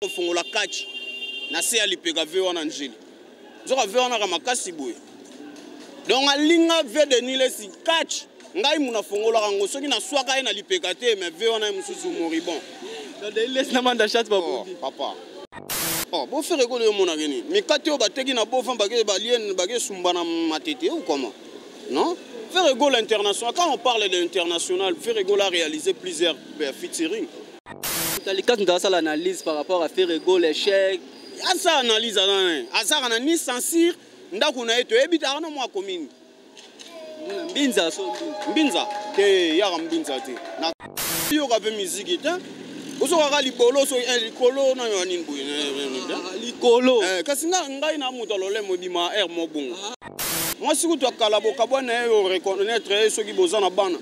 kofongola kachi na se ya lipeka ve wana njeli nzoka ve wana ka makasi boye donc alinga ve de nuit lesi kachi ngai muna afongolaka yango soki naswaka ye na lipeka te mais ve wana ye mosusu moribon oh, papa oh, bofere ekolo yo omonake nini mikate oyo bateki na bofan bakesumba na matete ou comment non Ferregola International, quand on parle de l'international, Ferregola a réalisé plusieurs euh, featuring. Kalikas ndasala analyse par rapport à faire goal échec. Asa analyse ana azaka na ni censure ndako na ye toyebi tara na mwa commune. Mbinza so mbinza te yaka mbinza te. Na yoka pe musique te. ozokaka libolo so eh, likolo na yo nini boye eh, eh, ah, likolo kasi ngai na moto alolemo ebima aire mobongo mwasi kutu akala bokabwa na ye oreconnaitre ye soki boza na bana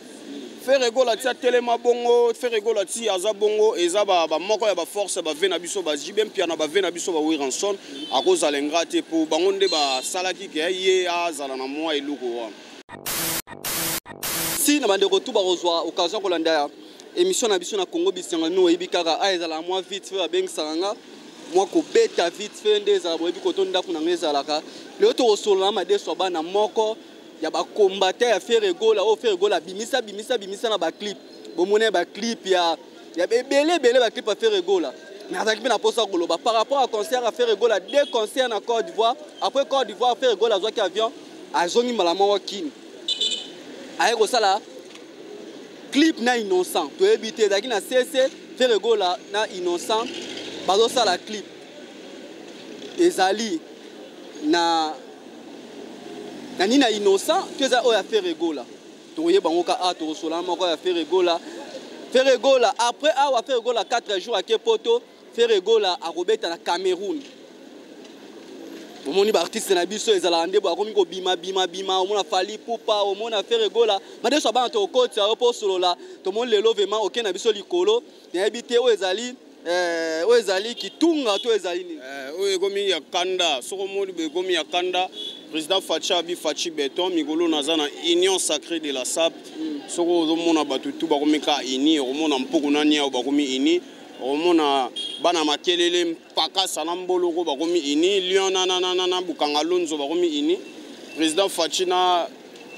Ferre Gola ti atelema bongo Ferre Gola ti aza bongo eza ba, ba moko ya ba force ba vie na biso ba JB Mpiana ba vie na biso ba Wiranson akozala ingra te po bango nde basalaki ke ye azala na mwa eloko wana si na bandeko tu bakozwa occasion kolanda ya émission na biso na Congo bisenga no oyebi kaka a ezala mwa vite fait babengisaka nga mwa kobeta vite fait nde ezala boyebi koto ndako na nga ezalaka lelo tokosolola madeso ya bana moko ya ba combattant ya Ferre Gola oyo oh, Ferre Gola bimisa bimisa bimisa na ba clip bomona ba clip ya ya ebele ebele ba clip ya Ferre Gola mais azalaki mpe na mposa ya koloba par rapport ya concert ya Ferre Gola deux concert na Côte d'Ivoire après Côte d'Ivoire Ferre Gola azwaki avion azongi mbala moko Kin aye kosala clip na innocent toyebi te ezalaki na CC Ferre Gola na innocent bazosala clip ezali na na nini na innocent to eza oyo ya fere egola tokoyeba yango ka a tokosolana moko ya fere egola fere egola après awa fere egola 4 jours ake poto fere egola akobeta na cameroun omoni baartiste na biso ezalaka nde akomi kobima bima bima omona fali pupa omona fere egola madeso abana tokokotisa yo mpo osolola tomoni lelo vraimen oke na biso likolo nayebi te oyo ezali eh, oyo ezali kitunga to ezali nini eh, oyo ekomi ya kanda soki omoni boye ekomi ya kanda président faci abi faci beton mikolo naza na union sacré de la sap mm. soki ozomona bato tu bakomi ka uni okomona mpoko na niao bakomi uni okomona bana makelele pakasa na mboloko bakomi ini lion na, na, na, na, na bukanga lonzo bakomi ini président faci na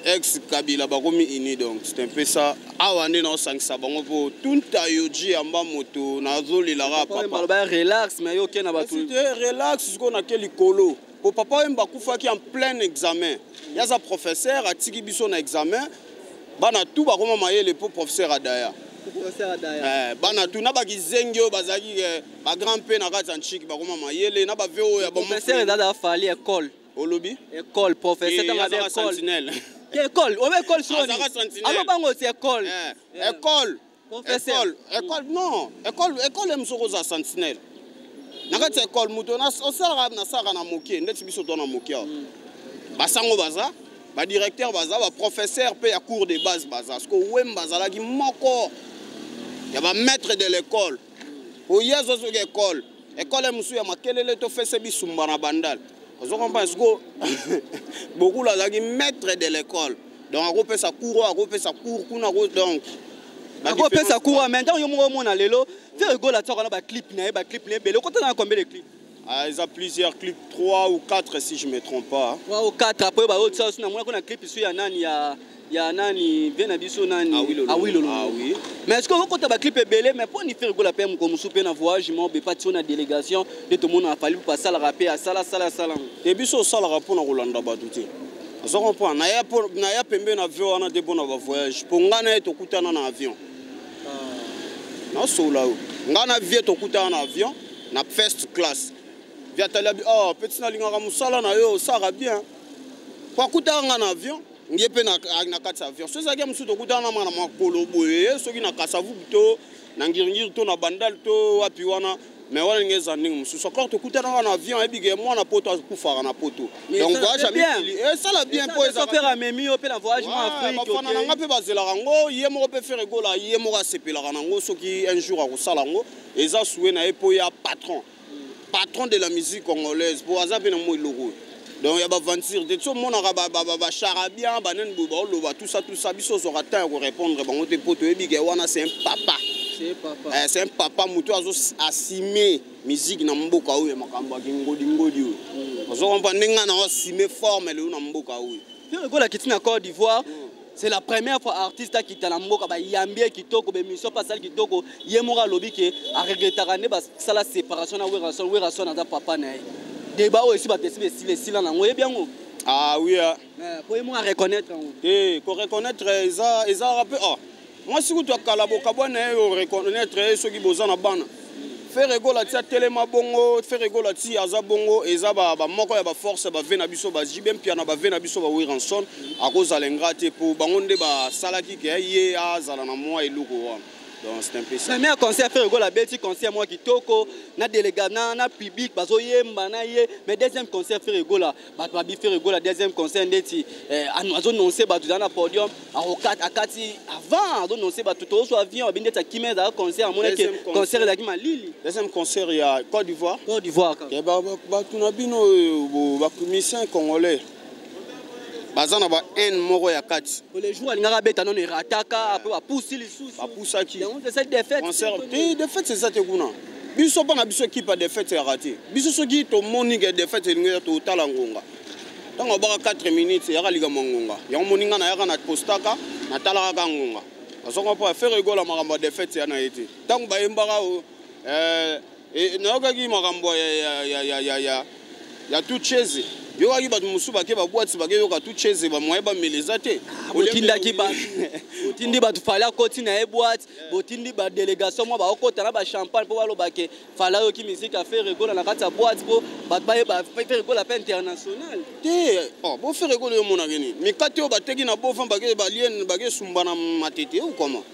ex kabila bakomi ini donc c'est un peu ça awa nde naosangisa bango mpo tunta yoji yamba moto nazolelaka papa relax mais yo oke na bato relax sikoyo nake likolo mpo papa oyemba akufaki en plein examen ye aza professeur atiki biso na examen bana tu bakoma mayele mpo professeur adaya eh, bana tu na bakizengi oyo bazalaki eh, ba grand pe na kati ya ntshiki bakoma mayele na ba veo ya professeur ezalaka ya fali ekole olobi ekole professeur tanga ba ekole ekole obe ekole soni alo bango ti ekole ekole ekole ekole non ekole ekole mosoko oza sentinelle na kati ya ekole moto osalaka nasalaka na moke ndeti biso to na moke awa mm. basango baza badirecteur baza baprofesseur mpe ya cours de base baza siko wemba azalaki moko ya bamaître de l'école oye azwa soki ekole ekole mosusu ya makelele tofese bisumba na bandal ozo comprendre siko bokulu azalaki maître de l'école donc akopesa cour akopesa cour kuna donc akopesa cour en même temps yo moko omona lelo ferre gola tiaka na baclip na ye baclip na ye ebele okotana na combien de clip Ah, eza plusieurs clip 3 ou 4 si je me trompe pas 3 ou 4 après ba autres aussi na mona ko na clip isu ya nani ya ya nani vie na biso nani awilolo ah, ah, oui. mais est ce que okokota baclip ebele mais mpo nifere kola mpe moko mosusu mpe na voyage moko mpe patio na délégation nde tomonaka fali mpo asalaka mpe asala asala asala te biso osalaka mpo na kolanda bato te oza comprendre naya pembe na avion wana te mpo na bavoyage mpo ngai na ye tokutana na avion nasolola yo ngai na vie tokutana na avion na first class viatali abi oh petit nalingaka mosala na yo osaka bien po akutaka ngai na avion ye mpe na kati ya avion so ezalaki ya mosusu tokutana na mwana makolo boye soki na kasavubu to na ngiringiri to na bandal to wapi wana mais wana ndenge eza ndenge mosusu encore tokutanaka na avion ayebi ke mwana poto akufaka na poto donc voyage ya mikili esala bien mpo ezafere amemi yo mpe na voyage ma afrikebafana na nga mpe bazelaka yango ye moko mpe fere gola ye moko asepelaka na yango soki un jour akosala yango eza souhait na ye mpo ya patron patron de la musique congolaise mpo aza mpe na moi eloko oyo donc ya baventure te ti omonaka bacharabian banani boye baoloba tusa tusa biso ozwaka temps ya korépondre bango te mpo toyebi ke wana c'est un papa c'est un eh, papa moto azo asime musique na mboka oyo ya makambo ya kingodingodi oyo mm. ozo kompa ndenge nao asime forme lelo na mboka oyo ekola kiti na cote d'ivoire mm. c'est la première fois artiste akita na mboka bayambi ye kitoko bemission mpe asali kitoko ye moko alobi ke aregretaka nde basala séparation na werason werason aza papa na ye deba oyo esi bato esi besila esila nango oyebi yango ah oui eh. Eh, po ye moko areconnaitre yango te eh, koreconnaitre ezalaka mpe ah. mwasi kutu akala bokabwa na ye oreconnaitre ye soki boza na bana Ferre Gola tia telema bongo Ferre Gola ti aza bongo eza ba, ba moko ya ba force ba vena biso ba JB Mpiana ba vena biso ba Wiranson akozala ingra te po bango nde ba salaki ke ye azala na mwa eloko wana donc c'est un peu ça. Mais concert Ferre Gola beti concert mwa kitoko na delega na na public bazoyemba na ye mais deuxième concert Ferre Gola bato babi ferre gola deuxième conseil ndeti eh, azononse bato ezala na podium akati avant azononse bato tozo avion abi ndeti akima ezala concert amonaki concert ezalaki malili deuxième concert ya côte d'ivoire côte d'ivoire eh, bato na bino euh, bamusicien congolais baza na ba haine moko ya kati le jour alingaka abeta nono erataka ape bapusi lisusu bapusaki concert te defete eza te kuna biso mpo na biso ekipe ya defete ya rate biso soki tomoni ke defete elingi ya totala ngonga ntango abaka 4 minutes yaka likambo ya ngonga yango moni ngai nayaka na postaka natalaka ka ngonga azonga mpo afere egola makambo ya defete ya na ye te ntango bayembaka oyo eh, eh, nayokaki makambo ya tuchese yokaki bato mosusu bake babwati bakeyoka tuchese bamoye bamela eza te otindaki bato otindi bato fali akoti na ye bwati botindi ba delegation mwa baokota na ba champagne mpo baloba ke fala yoki miziki ya fere gola na kati ya boite mpo bato bayeba fere gola mpe international te oh, bo fere gola yo omonake nini mikate oyo bateki na bofan balien bakesumba na matete ou comment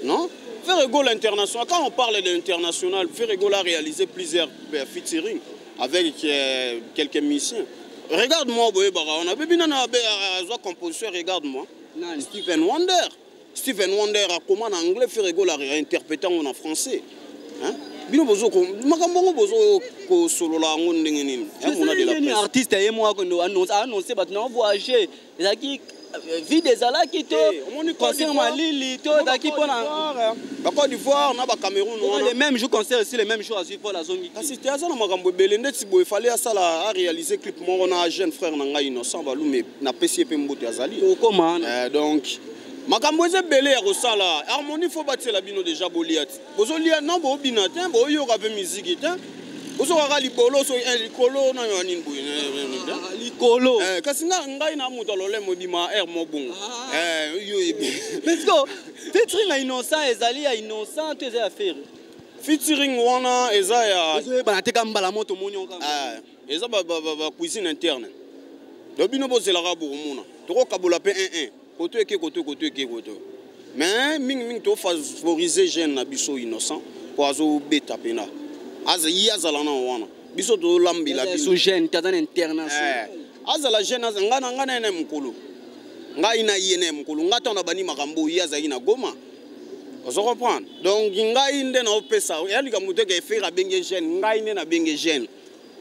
non fere gola international quand on parle de international fere gola a réalisé plusieurs euh, featuring avec euh, quelques musiciens regarde moi boyebaka wana bebi nana azwa composition regarde moi Stephen Wonder Steven Wonder akoma na anglais Ferre Gola a interprété en français. Hein? bino bozo makambo yango bozo kosolola yango ndenge nini eh, artiste ye moko annonce bato na voyage ezalaki euh, vide ezalaki to eh, concert malili to ezalaki mpona hein. bacode d'ivoire na bacameroun le même jour concert esi le même jour azwi paul azongi kasi te aza na makambo ebele ndeti boye fale asala aréalise clip moko na jeune frère na ngai innocent balume napesi ye mpe mbote azali tokoma eh, donc makambo eza ebele ya kosala harmonie fo batiela bino deja bolia ti bozolia non boobina te booyoka mpe miziki te bozokaka libolo so eh, likolo nayo ya nini boye eh, eh, ah, likolo kasi ngai na moto alolemo ebima aire mobongo parceque fetri na innocent ezali ya innocent to eza ya feri featuring wana eza ya ozoyebana te ka mbala moto moni eza ba, ba, ba, ba cuisine interne donc bino bozelaka bokomona tokokabola mpe 11 koto eke koto koto eke koto mais mingimingi tofavorise jeune na biso innocent mpo azobeta mpena ye azala na wana biso tolambela biso jeune taza na internation eh, azala jeune ngai na ngai na ye na mokolo ngai na ye na ye mokolo ngai ntango nabandi makambo oyo ye azalaki na goma ozo comprendre donc ngai nde naopesa ya likambo te ke efere abenge jeune ngai nde nabenge jeune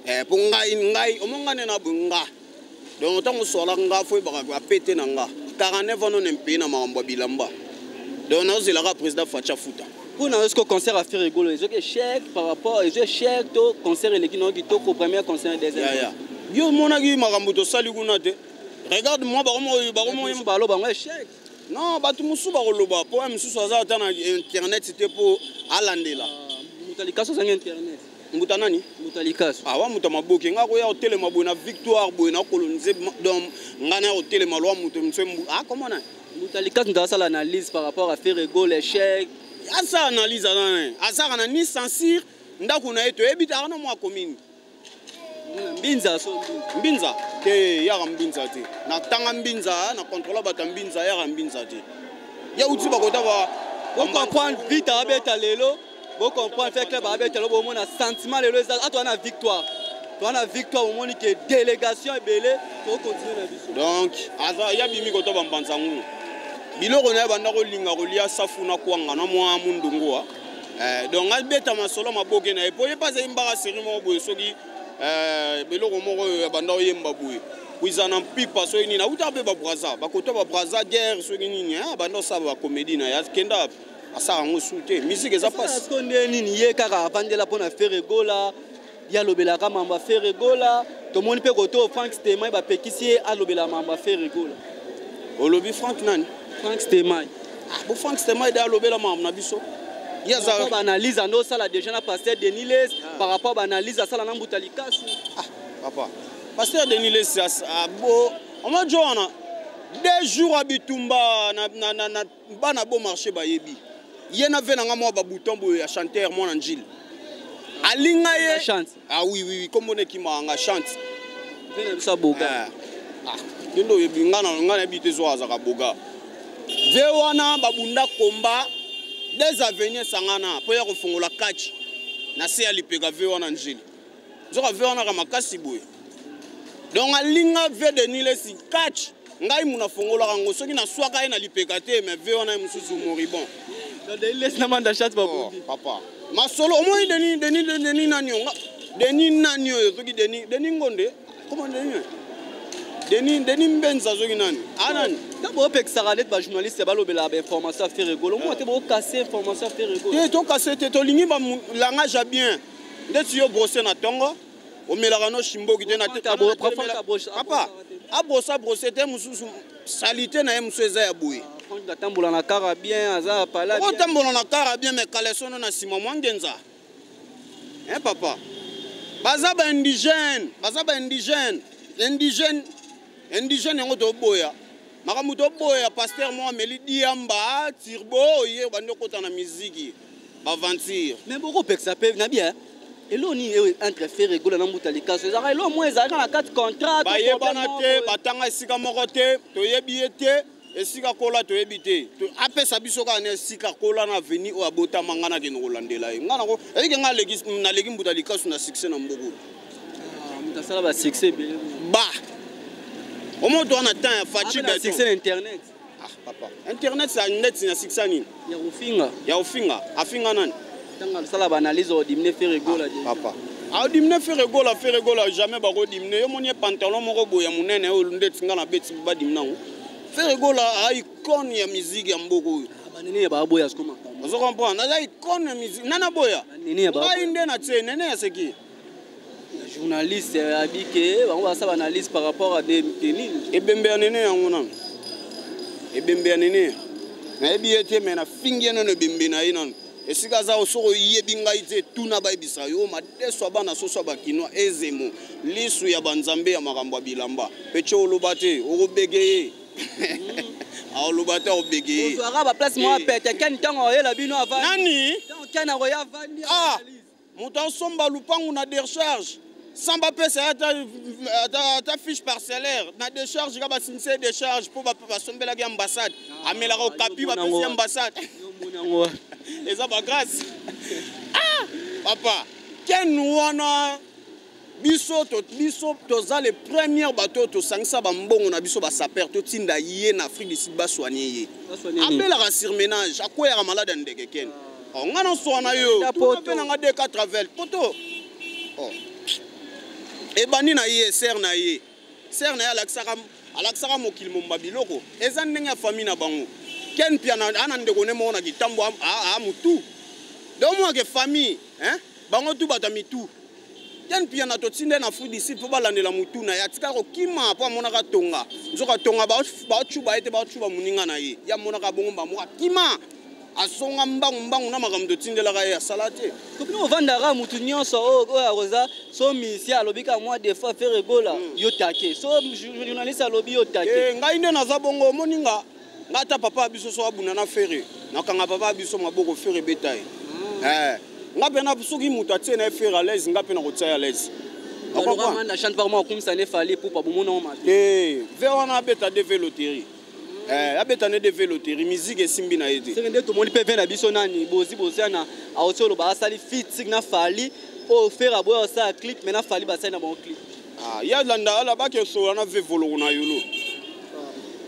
eh, mpo ngai ngai omo ngai nde na boye nga donc ntango oswala nga fo oyebaka bapete na nga 49 ans none mpei na makambo ya bilamba donc naozelaka président faci afuta mpo na eske concert ya fere egolo ezoki échec par rapport ezo échec to concert eleki nao kitoko première concert deuxième yo omonaki makambo tosali kuna te regarde moi bakomoyebaloba yango échec non bato mosusu bakoloba mpo ya mosusu aza ata na internet te mpo alandela ah, moto alikasi azangi internet mbuta nani mbuta likasu awa ah, mbuta maboke nga koya kotelema boye na victoire boye na kolonise donc nga na kotelema lwa moto mosu akomona ah, mbuta likasu nto asala analyse par rapport à faire ego l'échec asala analyse aza azaka na ni censure ndako na ye toyebi te aka na mwa commune mbinza so mbinza te yaka mbinza te natanga mbinza na contrôle bato ya mbinza yaka mbinza te ya uti bakota ba bocomprendre vita abeta lelo bocomprendre fe club abeta lelo bomona sentiment lelo eza atoa na victoire toa na victoire omoni ke délégation ebele tokokontinue na biso donc aza ya bimi kota bambanza ngulu biloko na ye banda kolinga kolia safu na kwanga na mwa mundungu wa eh, donc abeta masolo maboke na ye mpo ye mpe azali mbaka seri moko boye soki eh, beloko moko oyo ya banda oyemba boye kuiza na mpipa soki nini awutaka mpe babraza bakota babraza guerre soki nini eh, abanda osala bakomedi na ye akenda wapi asala yango su te misike eza mpasi nde nini ye kaka avandela mpo na feregola ye alobelaka mambo ya fere gola tomoni mpe koto frank stemai bapekisi ye alobela mambo ya fere gola olobi frank nani frank stemai ah, bo frank stemai de alobela mambo na biso ye azalaka baanalyse ande osala déjà na pasteur denis les ah. par rapport baanalyse asala na mbuta likasu ah, papa pasteur denis les ah, bo omajo wana deux jours ya bitumba na, na, na, na bana bon marché bayebi ye na ve na nga mwa babuton boye ya chanteur mwana njili alinga ye ah oui oui kombo na ekimaka nga chante mpe na biso aboga eh. ah, yo nde oyebi nga na nga nayebi te zwa azaka boga ve wana babunda komba des avenir esangana mpo ya kofongola kachi na se ya lipeka ve wana njili nzoka ve wana ka makasi boye donc alinga ve de nuit lesi catch ngai muna afongolaka yango soki naswaka ye na lipeka te mais ve wana ye mosusu moribon oh, papa masolo omoni deni deni deni nani onga deni nani oyo soki deni deni ngonde koma deni deni deni mbenza soki nani anani ah, ta bopekisaka neti bajournaliste balobelaka bainformation ya ferre golo moko te bokase information ya ferre golo te tokase te tolingi langage ya bien ndeti yo brose na tongo omelaka no shimboki te na te papa abrosa brose te mosusu salite na ye mosusu eza ya boye atambola na kara bien aza pala otambola na kara bien me kalesono na nsima mwa ngenza e papa baza ba indigène baza ba indigène indigène indigène yango toboya makambo toboya paster moko ameli diamba turbo oye obandi okota na miziki baventure mais bokopekisa mpe na bia eloko nini ewe entre fere egola na mbuta likaso ezalaka eloko moko ezalaka na kati contrat bayebana te batanga esika moko te toyebi ye te esika kola toyebi te apesa biso kaka na esika kola na aveni oyo abotama ngai nakende kolandela ye ngai nako eyike ngai naleki mbuta likasu na succès na mboku ah, asala basuccès ba omoto wana temps ya faci beton ah papa internet sa net na sikisa nini ya kofinga ya kofinga afinga nani ntango asala baanalyse odimine fere gola ah, papa adimine ah, fere gola fere gola jamais bakodimine yo moni ye pantalon moko boye ya monene oyo ndeti nga na beti badimine yango fere gola aicone ya miziki ya mboka oyo ah, banene ya baboya ozo comprendre naza icone ya miziki nana boya ngai nde na tie nene ya seki journaliste abi ke bango basala analyse par rapport à des nini ebembe ya nene yango nanu ebembe ya nene nayebi ye te me nafingi ye nano ebembe na ye nanu esika aza osoko oyebi ngai te tuna bayebisa yo madeso ya bana soso ya bakinois ezemo lisu ya banzambe ya makambo ya bilamba mpe tye oloba te okobege ye aoloba te obege ye ozwaka baplace mwa pete keni ntango oyela bino avani nani keni akoya avani moto asomba lupangu na decharge sans bapesa ye ata, ata, ata fiche parcellaire na decharge ka basimisa ye decharge mpo basombelaki ambassade ah, amelaka okapi bapesi ye ambassade eza bagrâce ah, papa ken wana biso to, biso toza le première bato tosangisa bambongo na biso basaper totinda ye na afrique du sud baswanie ye abelaka surmenage akweyaka malade ya ndeke kene oh, ngai naswana yo mpe nanga 2 travel poto oh. ebandi na ye ser na ye Sœur na ye alakisaka alakisaka mokili momba biloko eza ndenge ya famille na bango. Ken Piana ana ndeko ne moko na kitambo a, a, a mutu. Donc moi que famille hein bango tout bata mitu. Ken Piana to tinde na food ici po balandela mutu na ya tika ko kima po amonaka tonga. Nzoka tonga ba ba chuba ete ba chuba muninga na ye. Ya monaka bongo ba mo kima. asonga mbangu mbangu na makambo totindelaka ye asala te kopino ovandaka motu nyonso oyo oh, oyo akoza so misi alobi kaka mwa defois fere gola hmm. yo take so journaliste alobi yo take eh, ngai nde naza bongo omoni nga nga ata papa ya biso so abunda na fere nakanga papa ya biso maboko fere ebeta ye hmm. eh, nga mpe na soki moto atie na ye fere alaise nga mpe nakotia ye alaise na chante par moi akumisa ne fali pupa bomonango mabe eh, ve wana abeta deve loterie Eh, abeta nde deve loteri miziki esimbi na ye te seke nde tomoni mpe ve na biso nani bozi boziana auti oloba asali fitik na fali oyo fere aboya osala clip mai na fali basali na bango clip ah, ya landa ala bakesola na ve voloko na yolo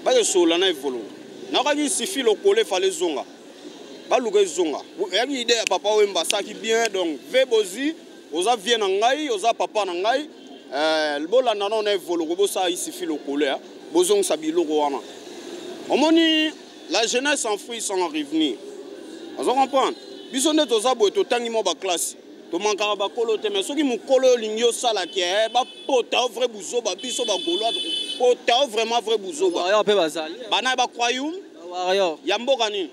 bakesola na evoloko nakaki sifi lokola efale ezonga baluka ezonga yaki ide ya papa wemba asaki bien donc ve bozi oza vie na ngai oza papa na ngai eh, bolanda nao na evoloko bosala isifi lokolo ya bozongisa biloko wana omoni la jeunesse en fruit sans revenir ozo comprendre biso nde toza boye totangi mwa baklasse tomankaka bakolo te mai soki mokolo oyo olingi osala ke eh, bapota yo vrai buzoba biso bagolois pota yo vraiment vrai buzoba bana ya bacroyum ya mboka nini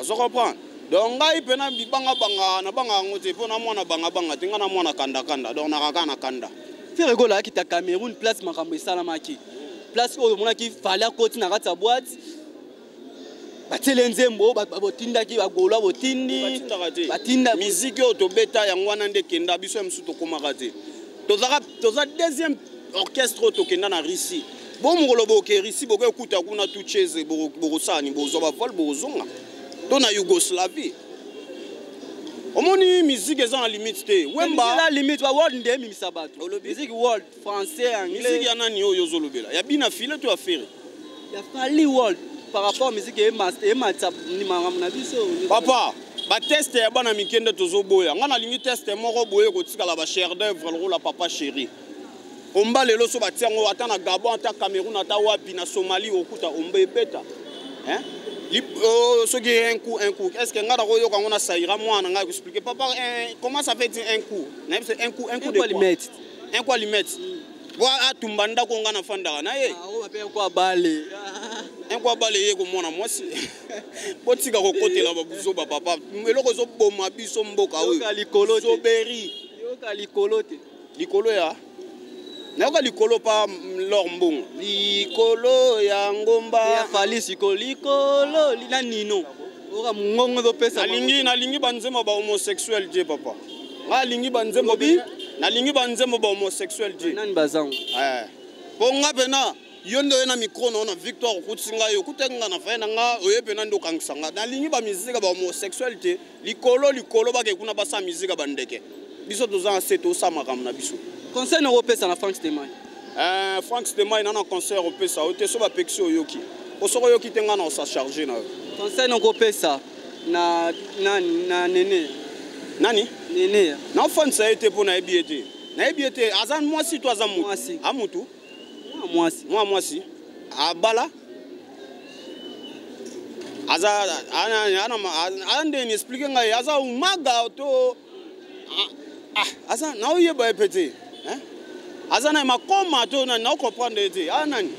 ozo comprendre donc ngai mpe na bibangabanga nabanga yango te mpo na mwana bangabanga te ngai na mwana kandakanda donc nakaka na kanda fere gola ayaki ta cameroun place makambo esalamaki place oyo omonaki fale akoti na kati ya boite batiele nzembo botindaki bagola botindi batinda miziki oyo tobeta yango wana nde kenda biso ya mosusu tokomaka te toza deuxième orchestre oyo tokenda na russie bo mokolo bokerisi boke okuta kuna tu chese bokosala ni bozwa bavole bokozonga to na yougoslavie omoni miziki eza na limite te wemba limite world nde emimisa bato miziki world français anglais miziki ya nani oyo ozolobela ya bina file to ya fere ya fali world par rapport miziki ematisa makambo na biso papa bateste ya bana mike nde tozoboya ngai nalingi teste moko boye kotikala bachère d'œuvre lokola papa chéri Omba lelo so batia yango ata na Gabon ata Cameroun ata wapi na Somalie okuta omba ebeta hein oh, soki un coup un coup est ce que ngai nakoyoka yango na saira mwana ngai akoexplike papa eh, comment ça fait dire un coup nayebi se un coup un coup de quoi un coup alimete po atumba ndako ngai nafandaka na ye un coup abale un coup abale ye komona mwasi botika kokotela babuzoba papa eloko ezoboma biso mboka oyo likolo te likolo ya nayoka likolo pa lor mbongo likolo ya ngomba ya fali siko likolo na nino oka mongongo ezopesa nalingi nalingi banzembo ba homosexuel je papa nga alingi banzembo bi nalingi banzembo ba homosexuel je nani bazango eh. po nga pena yo nde oye na micro na yo na victoire okutisi ngai okutaki ngai na fai na ngai oye pena nde okangisa ngai nalingi bamizika ba homosexuel te likolo likolo bake kuna basa mizika bandeke biso toza na se tosa makambo na biso conseil na kopesa na frank stemai eh, frank stemai na na conseil opesa yo te so bapekisi oyoki po soki oyoki te ngai na osa charge na yo conseil na kopesa na nani na nene nani nene naofanisa ye te mpo nayebi ye te nayebi ye te aza mwasi to aza motu amutu mwasi mwa mwasi abala aza aza nde ni explike ngai aza umaga to aza naoyeba ye mpe te aza na makoma to nani naokomprendre ye te aza nani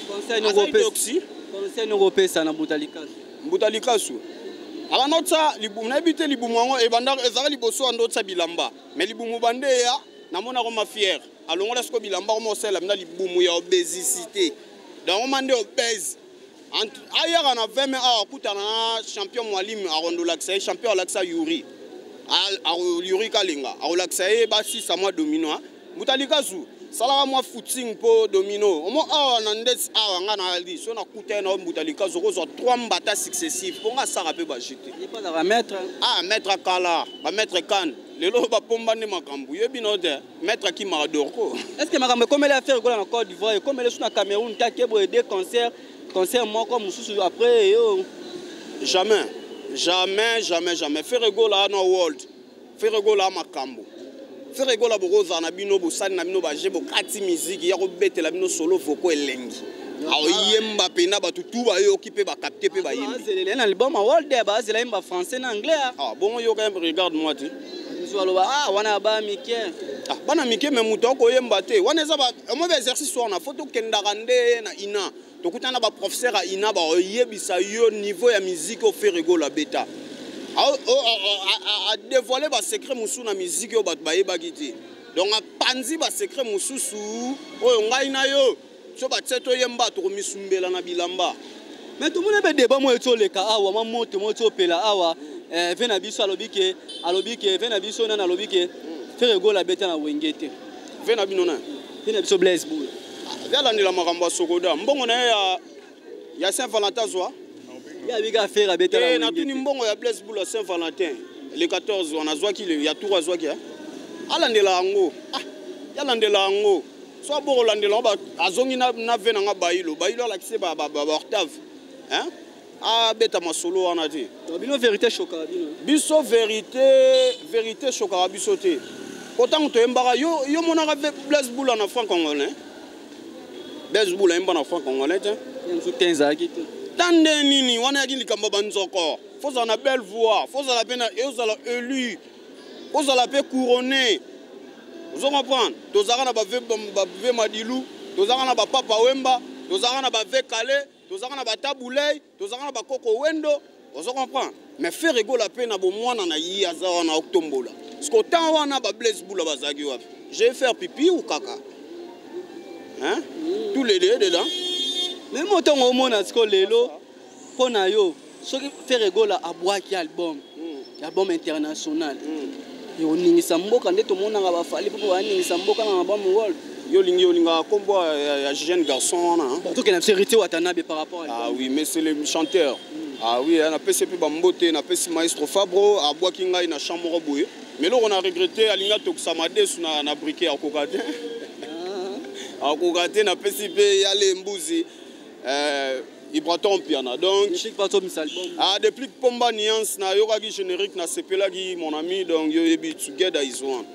conseil nokopesa na mbuta likasu mbuta likasu abanda otya libumu nayebi te libumu yango ebanda ezalaka liboso anda otya bilamba me libumu bande eya namonako mafiere alongola siko bilamba koma osalela mina libumu ya obesicité dango ma nde obese ayaka na 20 mai awa akutana na champion mwalimi akondolakisa ye champion alakisa yuri yuri kalenga akolakisa ye basisa mwa domino mutalikazu salaka mwa footing mpo domino omo awa na ndeti awa nga na liso nakuta ye na yo mutalikazu okozwa 3 mbata successive mpo nga asaka mpe bajete ah maître akala bamaître kane lelo bapomba nde makambo yebi na yo te Maître Akima Adorko. Est-ce que makambo ekomeli affaire ekola na Côte d'Ivoire, ekomeli sous na Cameroun ta kebo et deux concerts, concert moko mususu après yo. Jamais. Jamais, jamais, jamais. Ferre Gola no world. Ferre Gola makambo. Ferre Gola bokoza na bino bosani na bino baje bokati musique ya kobetela bino solo voko elengi. aoyemba mpena bato tu bayoki mpe bakapte mpe bayembi na album world bazela yemba français na anglais ah, bongo yoka regarde moi te mosusu aloba ah wana ya bana mike ah, bana mike me moto akoyemba te wana eza omoi ba exercice wana fo tokendaka nde na ina tokutana baprofesseur ya ina bakoyebisa yo niveau ya miziki oyo feregola beta adevoile basecret mosusu na miziki oyo bato bayebaki te donc apanzi basecret mosusu oyo ngai na yo so batse toyemba tokomisumbela na bilamba me tomoni mpe deba moyo ti oleka awa mwa moto moyo ti opela awa eh, ve na biso alobi ke alobi ke ve na biso nani alobi ke fere gola abeta na wenge te ve na bino nani ve na biso blaise bola ve alandela makambo ya sokoda mbongo na ye ya ya saint valentin azwa ye abika fere abeta na eh, wenge natuni mbongo ya blaise bola saint valentin le 14 wana azwaki ya tour azwaki eh? alandela yango ah, yalandela yango so aboko landela ngo azongi na, na ve na nga bayilo bayilo alakisi ba, ba, ba, ba octave hein? abeta masolo wana te bino verité shokaka bino biso verité verité shokaka biso te po ntango toyembaka yo, yo monaka blaise bula na franc congolais blaise bula ayemba na franc congolais te te ezalaki te ta nde nini wana yaki likambo ya banzoko fozala na belle voix fozala mpe na ezala élu kozala mpe couronne ozo comprendre tozalaka na bave madilu tozalaka na bapapa wemba tozalaka na bave kale tozalaka na batabulei tozalaka na bakoko wendo ozo comprendre mais fere egola mpe na bomwana na ye aza wana otombola siko temps wana bablaise bula bazalaki wapi je faire pipi ou kaka hein? tous les deux dedans meme otongo omona siko lelo mpo na yo soki ferre gola abwaki album hmm. album international hmm. oningisa mboka nde tomonaka bafali mpo baningisa mboka na album world yo olingi olingaka nkombo ya jeune garçon wana tokenda biso héritier watanabe par rapport ah oui mais c'est le chanteur hmm. ah oui napesi mpe bambote napesi maestro fabro abwaki ngai na champ moko boye mais eloko na regrete alingi atokisa madesu na, na brike akoka te ah. akoka te napesi mpe yale mbuzi euh, Ibraton Piana. Donc, ah, depuis Pomba Nuance, na yokaki générique, na sepelaki mon ami, donc yo yebi together is one.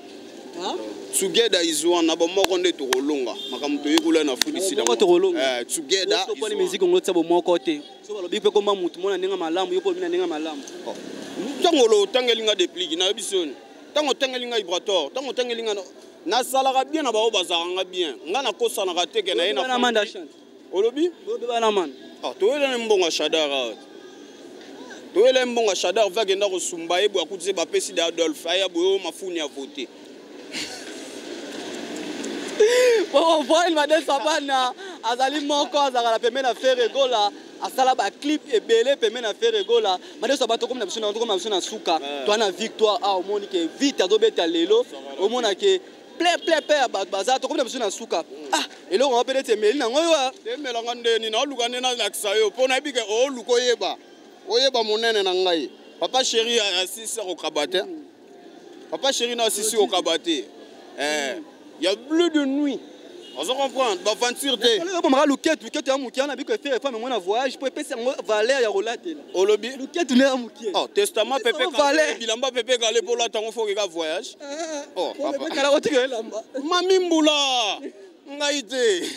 Hein? Together is one. Na bomoko nde tokolonga. Makambo toyekola na fundi sida. Bomoko tokolonga. Eh, together. Yo soponi musique ngo tsa bomoko te. So balobi pe komba mutu mona ndenge malamu, yo po mina ndenge malamu. Oh. Tango lo tangeli nga déplique, na yebi soni. Tango tangeli nga Ibrator, tango tangeli nga nasalaka bien na baoyo bazalaka nga bien. Nga nakosanaka te ke na ye na olobi obeba na man ah, toyela na mbongo ya shadar awa ah. toyela ye mbongo ya shadar va akenda kosumba ye boye akutise bapesi de adolphe aya boye oyo mafuni ya vote bokovoil made sabana azali moko azalaka na pembe na fere gola asala baclip ebele pembe na fere gola made sabana tokomi na biso na biso na suka eh. toa na victoire awa ah, omoni ke vite azobeta lelo omona ke plein plein plein ya bato baza tokomi na biso na suka ah eloko yango mpe neti emeli nango yo ah. emelanga ndeni naoluka nde nalakisa yo mpo nayebi ke ooluka oyeba oyeba monene na ngai papa sheri asisi akokaba te papa sheri na asisi kokaba te eh, ya bleu de nuit ozo comprendre ba aventure te oyo bomaka luketu luketu ya moke wana biko efe efa memo na voyage mpo epesi yango valeur ya kolatela olobi luketu nde ya moke oh testament pepe kale bilamba pepe kale mpo olata yango foke ka voyage eh, eh, eh. oh papa kala kotika elamba mami mbula ngai te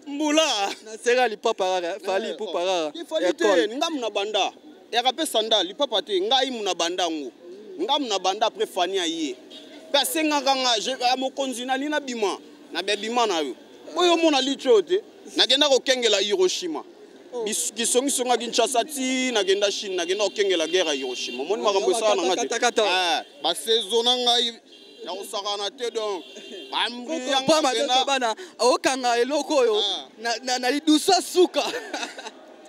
mbula naseka lipapa kaka fali ipupa kaka nga muna banda eyaka mpe sandal lipapa te ngai muna banda yango ngai muna banda apres fani aye mpe asengaka nga ya mokonzi nali nabima na bebima na yo oyo omona litio oyo te nakenda kokengela hiroshima oh. kisongisonga kinshasa ti nakenda chine nakenda kokengela guerre ya hiroshima omoni makambo esala na nga te eh, basaison na ngai ya kosakana te donc bambiyangabana okanga eloko oyo ah. na lidusa suka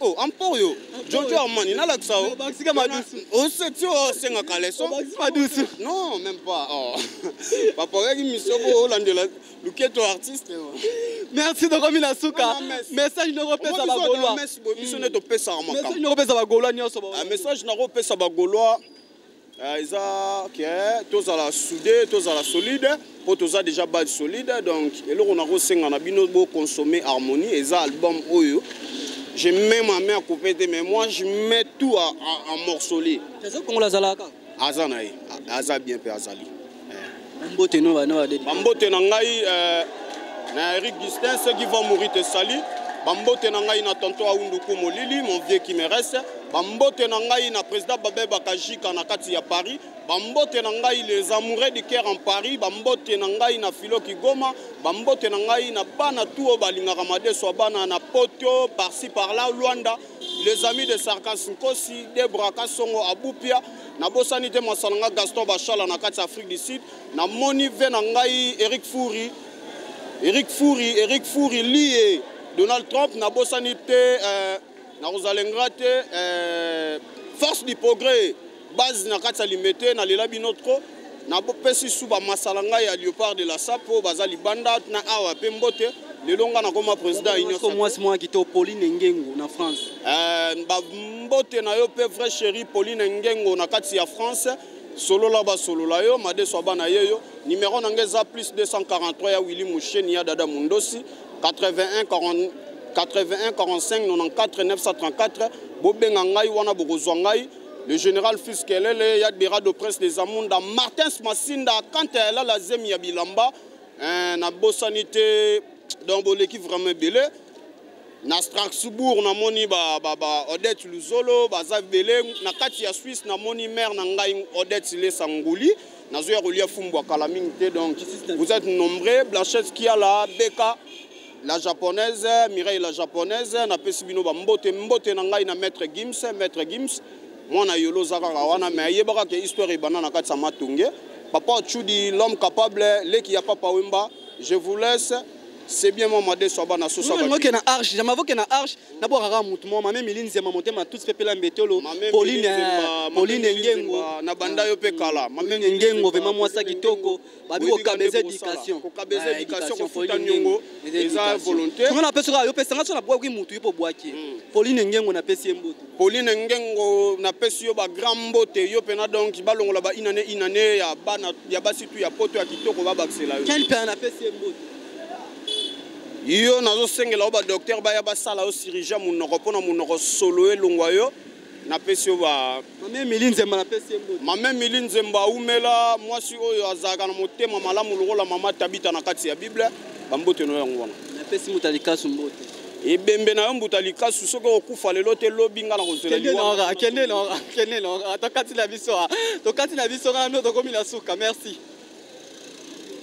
Oh, ampor yo jojo armani nalakisa yo obakisika madusu oseti oyo osengaka leso obakisi madusu non même pas oh. baporeki misio bo olandela luketo artiste merci tokomi na suka message noko pesa bagolois biso nde topesaka makambo noko pesa bagolois nyonso message nako pesa bagolois Eh, eza ke eh, tozala soude tozala solide mpo toza déjà base solide donc eloko nakosenga na bino boconsomme harmonie eza album oyo je mets ma main à couper te mais moi je mets tout en morcelie aza na ye aza bien mpe azali Mbote no bana ba dede. Mbote na ngai euh, na Eric Gustin ceux qui vont mourir te salut. Bambote na ngai na tonto Aundu Kumolili mon vieux qui me reste. Bambote na ngai na président Babé Bakajika na kati ya Paris. Bambote na ngai les amoureux du cœur en Paris. Bambote na ngai na Philo Kigoma. Bambote na ngai na bana tuo balingaka madeso bana na Poto par-ci par-là Luanda. les amis de sarkas nkosi debra kasongo abupia nabosani te mwasa na ngai gaston bashala na kati ya afrique du sud namoni ve na ngai eric furi eric furi eric furi lie donald trump nabosani te euh, nakozala ingra te euh, force du progrès base na kati ya limete na lela bino trop napesi su bamasala ngai ya leopard de la sapo baza libanda na awa mpe mbote lelo ngai nakoma président ya union mwasi mwana kitoko pauline ngengo na france eh, bambote na yo mpe vrai chéri pauline ngengo na kati ya france solola basolola yo madeso ya bana ye yo nimero na ngai eza plus 243 ya willi musheni ya dada mundosi 81 40 81 45 94 934 bobenga ngai wana bokozwa ngai Le général Fils Kelele, Yadbera de Prince des Amunda, Martins Masinda, quand elle a la zemi ya bilamba, hein, na bosanité, donc boleki vraiment belé. Na Strasbourg, na moni ba, ba, ba Odette Luzolo, ba Zav Belé, na kati ya Suisse, na moni mère na ngai Odette Lesa Ngouli, na zoya kolia fumbu akala mingi te, donc vous êtes nombreux, Blanchette Kiala, Beka, La japonaise, Mireille la japonaise, na pesi bino ba mbote mbote na ngai na maître Gims, maître Gims. Mwana yolo zaka kawana mais yebaka ke histoire ebana na kati sama tunge. Papa Chudi l'homme capable, leki ya papa Wemba, je vous laisse. C'est bien moi made so bana so ça. Moi na arche, jamais voke na arche, na bo kaka mutu moi mame milini zema motema tout peuple la mbetolo. Pauline Pauline Ngengo na banda yo pe kala. Mame Ngengo vraiment moi sa kitoko. babi kokabeza éducation kokabeza eh, éducation kofuta nyongo eza volonté tuna napesi kaka yo pesa nga so nabwaki motu yo mpo obwaki hmm. pauline ngengo napesi ye mbote pauline ngengo napesi yo bagrand mbote yo mpena donc balongola ba inane inane ya bana ya basi tu ya poto ya kitoko babakisela yo kel mpena napesi ye mbote yo nazosengela yo badoktere baya basala yo sirurgien monoko mpo na monoko solo elongwa yo napesi yo ba mame mili nzemba napesi ye mbote mame mili nzemba awumela mwasi oyo azalaka na motema malamu lokola mama tabita na kati ya bible bambote no yango wana napesi moto alikasu mbote ebembe na yo mbuta likasu soki okufa lelo te lobi nga na kozela liwa kende nora kende nora tokati na biso tokati na biso nga nano tokomi na suka merci